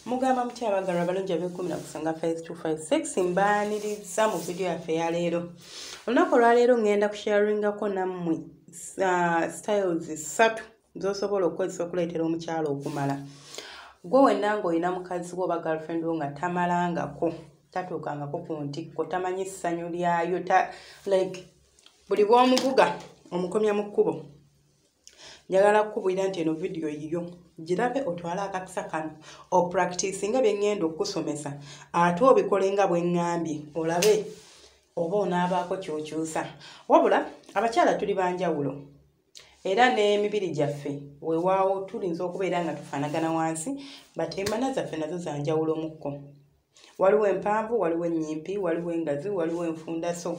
mugamba mutya abagalwa abalungi abekumi na kusanga 5256 mbaaniriza mu vidiyo yaffe yaleero olunaku olwaleero ŋŋenda kusharingako nammwe uh, styles ssatu z'osobola okukozesa okuleetera omukyala okumala gwe wenna ng'olina mukazi wo oba girlfriend wo nga tamalangako tatuukangako ku ntikko tamanyi ssanyu lyayo like buli bw'omuvuga omukomya mu kkubo njagala kukubulira nti eno vidiyo yiyo girabe otwale akakisa kano opractice nga byeŋŋenda okukusomesa ate obikole nga bweŋŋambye olabe oba onaabaako kyokyusa wabula abakyala tuli banjawulo era n'emibiri gyaffe wewaawo tulinza okubeera nga tufaanagana wansi but emana zaffe nazo zanjawulo mukko waliwo empanvu waliwo ennyimpi waliwo engazi waliwo enfunda so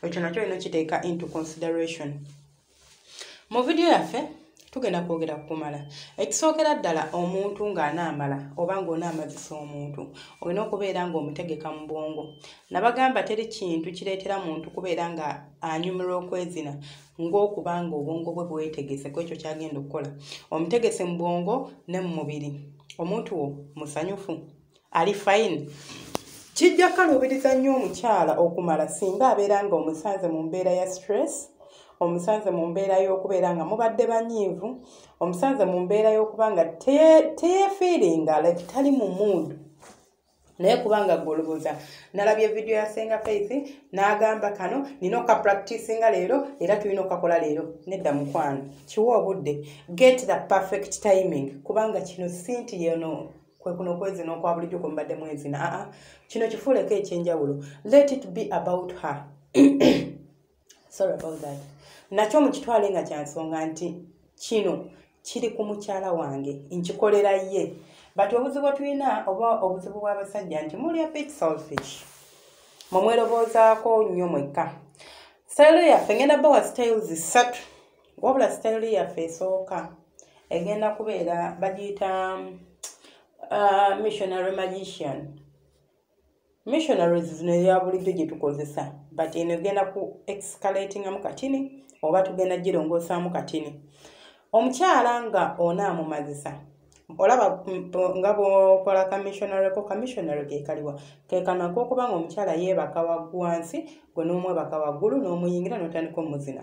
ekyo nakyo olina okiteeka into consideration mu vidiyo yaffe tugenda kwogera kukumala ekisookera ddala omuntu ng'anaamala oba ng'onaamazisa omuntu olina okubeera ng'omutegeka mu bwongo nabagamba teri kintu kireetera muntu kubeera nga anyumirwa okwezina ng'okuba nga obwongo bwe bwetegese ku ekyo kyagenda okukola omutegese mu bwongo ne mu mubiri omuntu wo musanyufu ali fayini kijja kukaluubiriza nnyo omukyala okumala singa abeera nga omusanze mu mbeera ya stress omusanze mu mbeera y'okubeera nga mubadde banyiivu omusanze mu mbeera y'okuba nga teyefiiringa like tali mu muudu naye kubanga gwolubuza nalabye vidiyo ya senga faith n'agamba kano nina okapractisinga leero era tulina okakola leero nedda mukwano kiwa obudde get the perfect timing kubanga kino sinti yeno kwekuno okwezina okwa bulijjo kwemubadde mwezina aa kino kifuuleko ekyenjawulo let it be about her sorry about that nakyo mukitwale nga kyansonga nti kino kiri ku mukyala wange nkikolera ye but obuzibu tulina oba obuzibu bw'abasajja nti muli a bit selfish mumweroboozaako nnyo mwekka sitayiro yaffe ngenda bawa sitayiro zisatu wabula sitayiro yaffe esooka egenda kubeera bagiyita uh, missionary magician missionaries zino eyabulijjo gye tukozesa but eno egenda ku excalatingamu katini oba tugenda girongosaamu katini omukyala nga onaamumazisa olaba nga bwokola kamissionary ko kamissionary gekaliwa kekano akokuba nga omukyala yeebaka wagwansi gwe n'omwebaka waggulu n'omuyingira n'otandika omuzina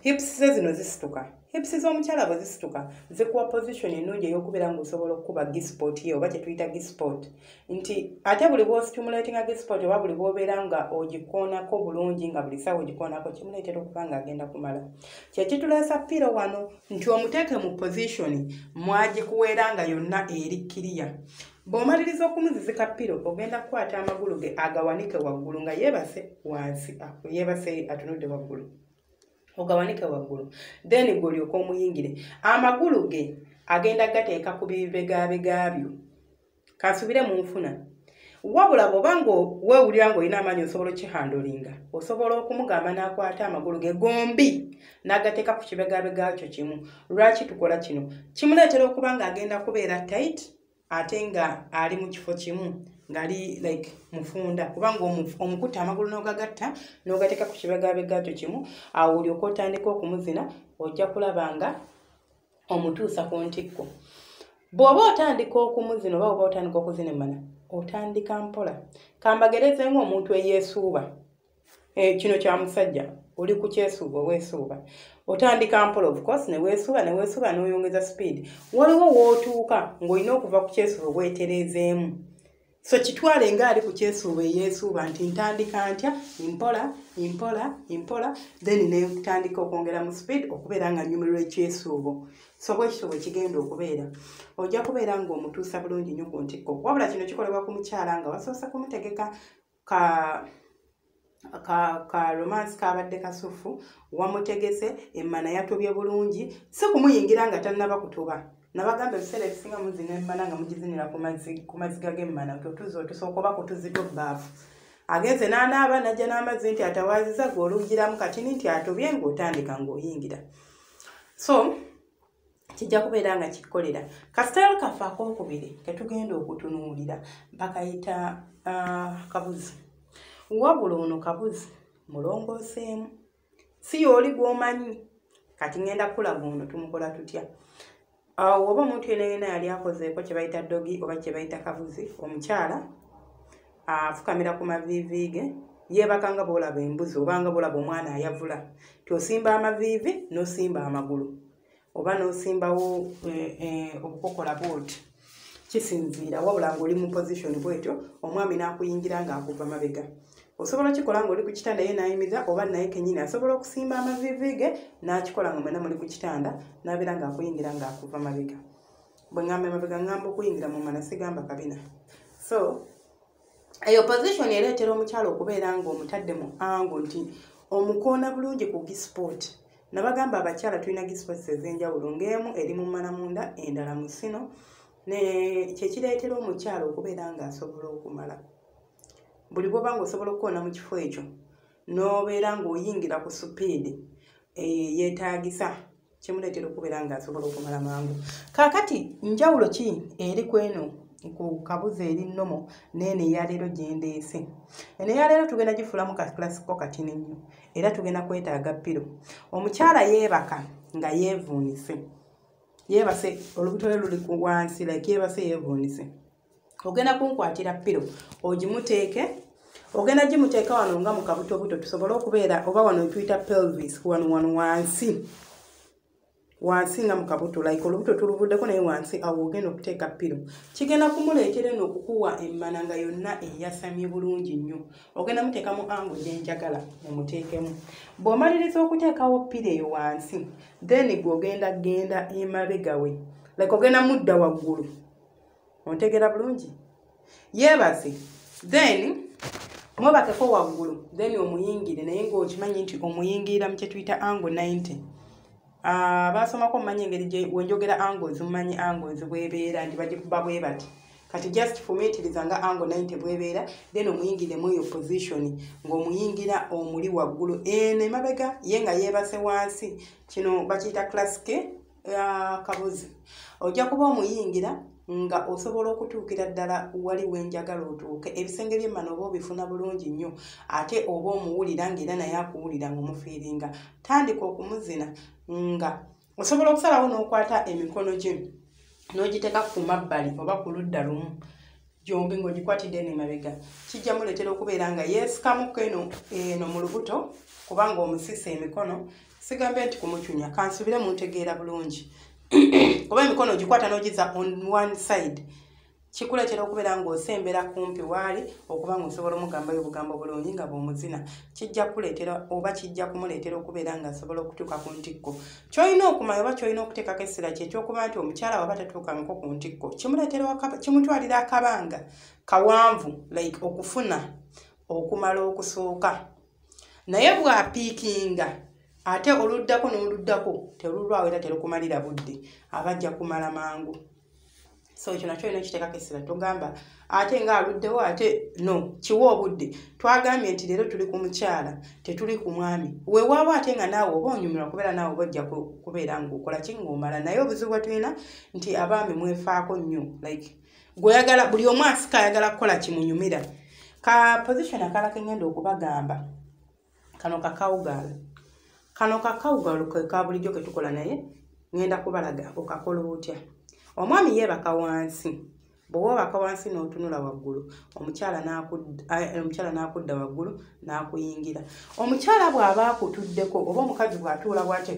hips ze zino zisituka hips z'omukyala bwe zisituka zikuwa position ennungi ey'okubeera ng'osobola okukuba gispot ye oba kye tuyita gispot nti ate buli bw'ostimulatinga gispot oba buli bw'obeera nga ogikoonako bulungi nga buli sawa ogikoonako kimuleetera okuba ng'agenda kumala kye kituleesa piiro wano nti omuteeke mu position mwagikuweera nga yonna eri kiriya bw'omaliriza okumuzizika piro ogenda kukwata amagulu ge agawanike waggulu nga yeebase wansi ah, yeebase atunudde waggulu ogawanike waggulu then gwe olyoka omuyingire amagulu ge agenda gateeka ku bibegabega byo kansubire mu nfuna wabula bwoba nga wewulira nga olina amaanyi osobola okihandolinga osobola okumugamba n'akwata amagulu ge gombi n'agateeka ku kibegabega kyo kimu lwaki tukola kino kimuleetera okuba nga agenda kubeera tight ate nga ali mu kifo kimu ngali like mufunda kubanga omukuta amagulu nogagatta nogateeka ku kibegabegakyo kimu awo olyoka otandika okumuzina ojja kulaba nga omutuusa ku ntikko bw'oba otandika okumuzina oba oba otandika okuzina emana otandika mpola kambagereze ngaomuntu eyeesuuba Eh, kino kya musajja oli ku kyesuuba weesuuba otandika mpola ofcourse neweesuuba neweesuuba n'oyongeza speed waliwo wootuuka ng'olina okuva ku kyesuuba weetereezeemu so kitwale nga ali ku kyesuuba eyeesuuba nti ntandika ntya mpola mpola mpola then netandika okwongera mu speed okubeera nga nyumirwa ekyesuubo so bwekityo bwekigenda okubeera ojja kubeera ng'omutuusa bulungi nyo ku ntikko wabula kino kikolebwa ku mukyala nga wasoose kumutegeka ka ka ka romance kabadde kasufu wamutegese emmana yatobye bulungi si kumuyingira nga tannaba kutuba nabagamba ebiseera ebisinga muzina emmana nga mugizinira ku maziga g'emmana totuza otusooka oba kutuzito baafu agenze n'anaaba najja n'amazzi nti atawaaziza gwe olugiramu katini nti atobye ng'otandika ng'oyingira so kijja kubeera nga kikolera kasitayiro kaffe akokubiri ketugenda okutunuulira bakayita uh, kabuzi wabula ono kabuzi mulongooseemu si yooli gwomanyi kati ngenda kukulaga ono tumukola tutya ah, oba omuntu yena yena yali akozeeko kyebayita dogi oba kyebayita kabuzi omukyala afukamira ku maviivi ge yeebaka nga boolaba embuzi obanga boolaba omwana ayavula ti osimba amaviivi nosimba amagulu oba n'osimbawo eh, eh, obukokola booti kisinziira wabula ng'oli mu position bwetyo omwami n'akuyingira ng'akuva mabega osobola okikola ng'oli ku kitanda ye n'ayimiza oba naye kenyini asobola okusimba amaviivi ge n'akikola nga mwena muli ku kitanda n'abeera ng'akuyingira ng'akuva mabega bwe ŋŋamba emabega ŋŋamba okuyingira mu mana sigamba kabina so eyo position ereetera omukyalo okubeera ng'omutadde mu ango nti omukoona bulungi ku gisport nabagamba abakyala tulina gisports ez'enjawulo ng'emu eri mu mmana munda endala mu sino kyekireetera omukyalo okubeera ng'asobola okumala buli bwoba nga osobola okukoona mu kifo ekyo n'obeera ng'oyingira ku supiidi eh, eyetaagisa kimuleetera okubeera ng'asobola okumala mangu kaakati njawulo ki eri ku eno ku kabuzi eri nnomo neeno eyaleero gyendeese eno eyaleero tugenda gifulamu kakilasiko katini nnyo era tugenda kwetaaga piro omukyala yeebaka nga yeevuunise yeebase olubutole luli ku wansi like yeebase yeevuunise ogenda kunkwatira piro ogimuteeke ogenda gimuteeka wano nga mukabutobuto tusobole okubeera oba wano etuyita pelvis wano wano wansi wansi nga mukabuto like olubuto tuluvuddeko naye wansi awo ogenda okuteeka piro kigenda kumuleetera eno okukuwa emmana nga yonna eyasamye bulungi nnyo ogenda muteeka mu ango gyenjagala mumuteekemu bw'omaliriza okuteekawo piro eyo wansi then gwe ogenda genda emabegawe like ogenda mudda waggulu ontegera bulungi yeebaze then mwebakeko waggulu then omuyingire naye ngaokimanyi nti omuyingirira mu kyetuyita ango 90 ah, baasomako omumanyi engeri wenjogera ango zimumanyi ango zibwebeera nti bagikuba bwe bati kati just fumitiriza nga ango 90 bwebeera then omuyingire mweyo position ngaomuyingira omuli waggulu eno emabega ye nga yeebase wansi kino bakiyita classike akabuzi ojja kuba omuyingira nga osobola okutuukira ddala wali wenjagala otuuke ebisenge byemmana oba obifuna bulungi nnyo ate oba omuwulira ngaera naye akuwulira nga omufiiringa tandika okumuzina nga osobola okusalawo n'okwata emikono gye n'ogiteeka ku mabbali oba ku ludda lumu gyombi ng'ogikwatidde eno emabega kijja muleetera okubeera nga yeesikamukko eno eno mu lubuto kubanga omusisa emikono sigambe nti kumucunya kansubire muntegeera bulungi kuba emikono ogikwata n'ogiza on one side kikuleetera okubeera ng'osembera kumpi waali okuba nga osobola omugambayo obugambo bulungi nga bw'omuzina kijja kuleetera oba kijja kumuleetera okubeera ng'asobola okutuuka ku ntikko kyolina okumanya oba kyolina okuteekako essira kye kyokuba nti omukyala waba tatuukangako ku ntikko kimutwalira akabanga kawanvu like okufuna okumala okusooka naye bwapiikinga ate oluddako n'oluddako terulwawo era terukumalira budde abajja kumala mangu so ekyo nakyo olina okiteekako essira togamba ate nga aluddewo ate no kiwa obudde twagambye nti leero tuli ku mukyala tetuli ku mwami wewaaba ate nga naawe oba onyumirwa kubeera naawe oba ojja kubeera ngaokola ki ngaomala naye obuzibu bwe tulina nti abaami mwefaako nnyo like gweoyagala buli omu asika ayagala kukola kimunyumira ka position akala kengenda okubagamba kano kakawugaalo kano kakawugaalo keka bulijjo ke tukola naye ŋenda kubalaga okakola otya omwami yeebaka wansi bwewa obaka wansi n'otunula waggulu omukyala eh, n'akudda waggulu n'akuyingira omukyala bw'aba akutuddeko oba omukazi bw'atuula bwate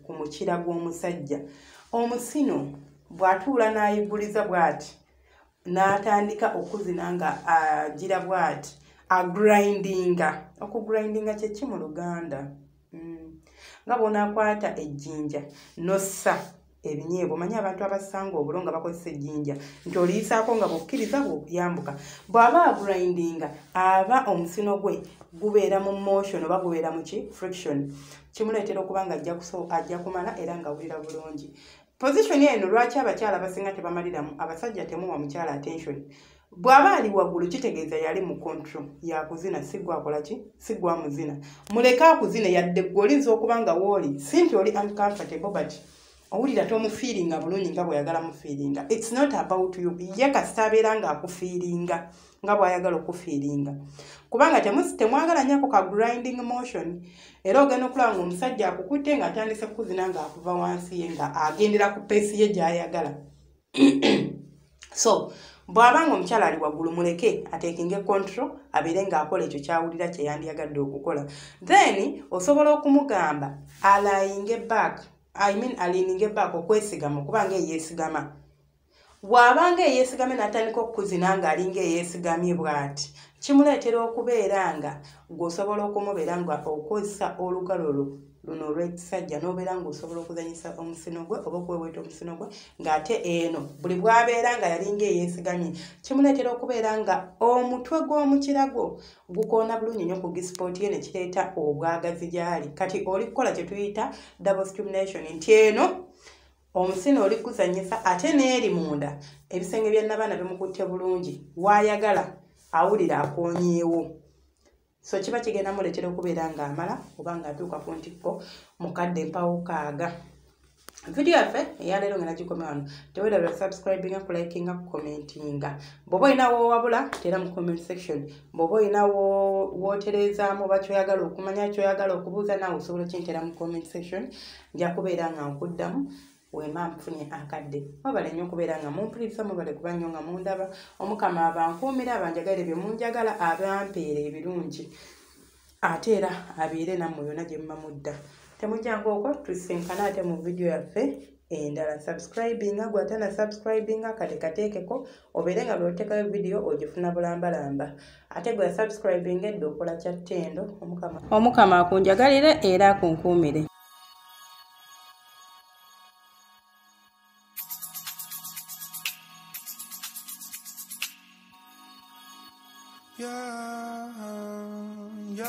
ku mukira gw'omusajja omusino bw'atuula n'ayigguliza bw'ati n'atandika okuzina nga agira bwati agrindinga okugrindinga kyeki mu luganda mm. nga bwonakwata ejjinja nossa ebinyeebwa omanyi abantu abasanga obulo nga bakozesa ejjinja nti oliyisaako nga bukkiriza bwokuyambuka bw'aba agrindinga aba omusino gwe gubeera mu motion oba gubeera muki friction kimuleetera okuba nga ajja kumala era nga awulira bulungi Position eno lwaki abakyala abasinga tebamaliramu abasajja temuwa mukyala attention bw'aba ali waggulu kitegeeza yali mu control yakuzina si gwe akola ki si gwe amuzina muleke akuzine yadde gwe olinza okuba nga wooli si nti oli uncomfortable but owulira tomufiiringa bulungi nga bweyagala mufiiringa its not about you ye kasita abeera ng'akufiiringa nga bwayagala okufiiringa kubanga temwagala nyako ka grinding motion era ogenda okulaba nga omusajja akukutte nga atandise kukuzina nga akuva wansi ye nga agendera ku peesi ye gyayagala so bw'aba nga omukyala ali waggulu muleke atekinge control abeere ng'akola ekyo kyawulira kye yandiyagadde okukola then osobola okumugamba alayinge back i mean alininge back okwesigama okuba nga eyeesigama bw'abanga eyeesigamye n'atandika okukuzina ng'alinga eyeesigamye bw'ati kimuleetera okubeera nga gweosobola okumubeera nga okozesa olugalo lwo luno olwekisajja n'obeera ng'osobola okuzanyisa omusino gwe oba okuweweeta omusino gwe ng'ate eno buli bw'abeera nga yalinga eyeesigamye kimuleetera okubeera nga omutwe gw'omukira gwo gukoona bulungi nnyo ku gisipooti ye ne kireeta obwagazi gy'ali kati oli kukola kye tuyita double stimulation nti eno omusina oli kuzanyisa ate n'eri munda ebisenge bya nabaana bimukutte bulungi waayagala awulira akonyeewo so kiba kigenda muleetera okubeera ng'amala oba ng'atuuka ku ntikko mukadde mpawo kaaga vidiyo yaffe eyaleero nga nagikomya wano tewerabira subscribinga kulikinga kucommentinga bwoba olina wowabula tera mu comment section bwoba olina wotereezaamu oba kyoyagala okumanya kyoyagala okubuuza naawe osobola okyentera mu comment section nja kubeera nga nkuddamu wema mfunye akadde mubale nnyo okubeera nga mumpuliriza mubale kuba nnyo nga mundaba omukama abankuumira abanjagale bye munjagala abampeera ebirungi ate era abeere nammwe yona gye muba mudda temujanga okwo tusinkana ate mu vidiyo yaffe endala subscribinga gwatana subscribinga kate kateekeko obeere nga lwotekayo vidiyo ogifuna bulambalamba ate gwe yasubscribing edda okola kya ttendo omukama omukama akunjagalire era akunkuumire Yeah, yeah.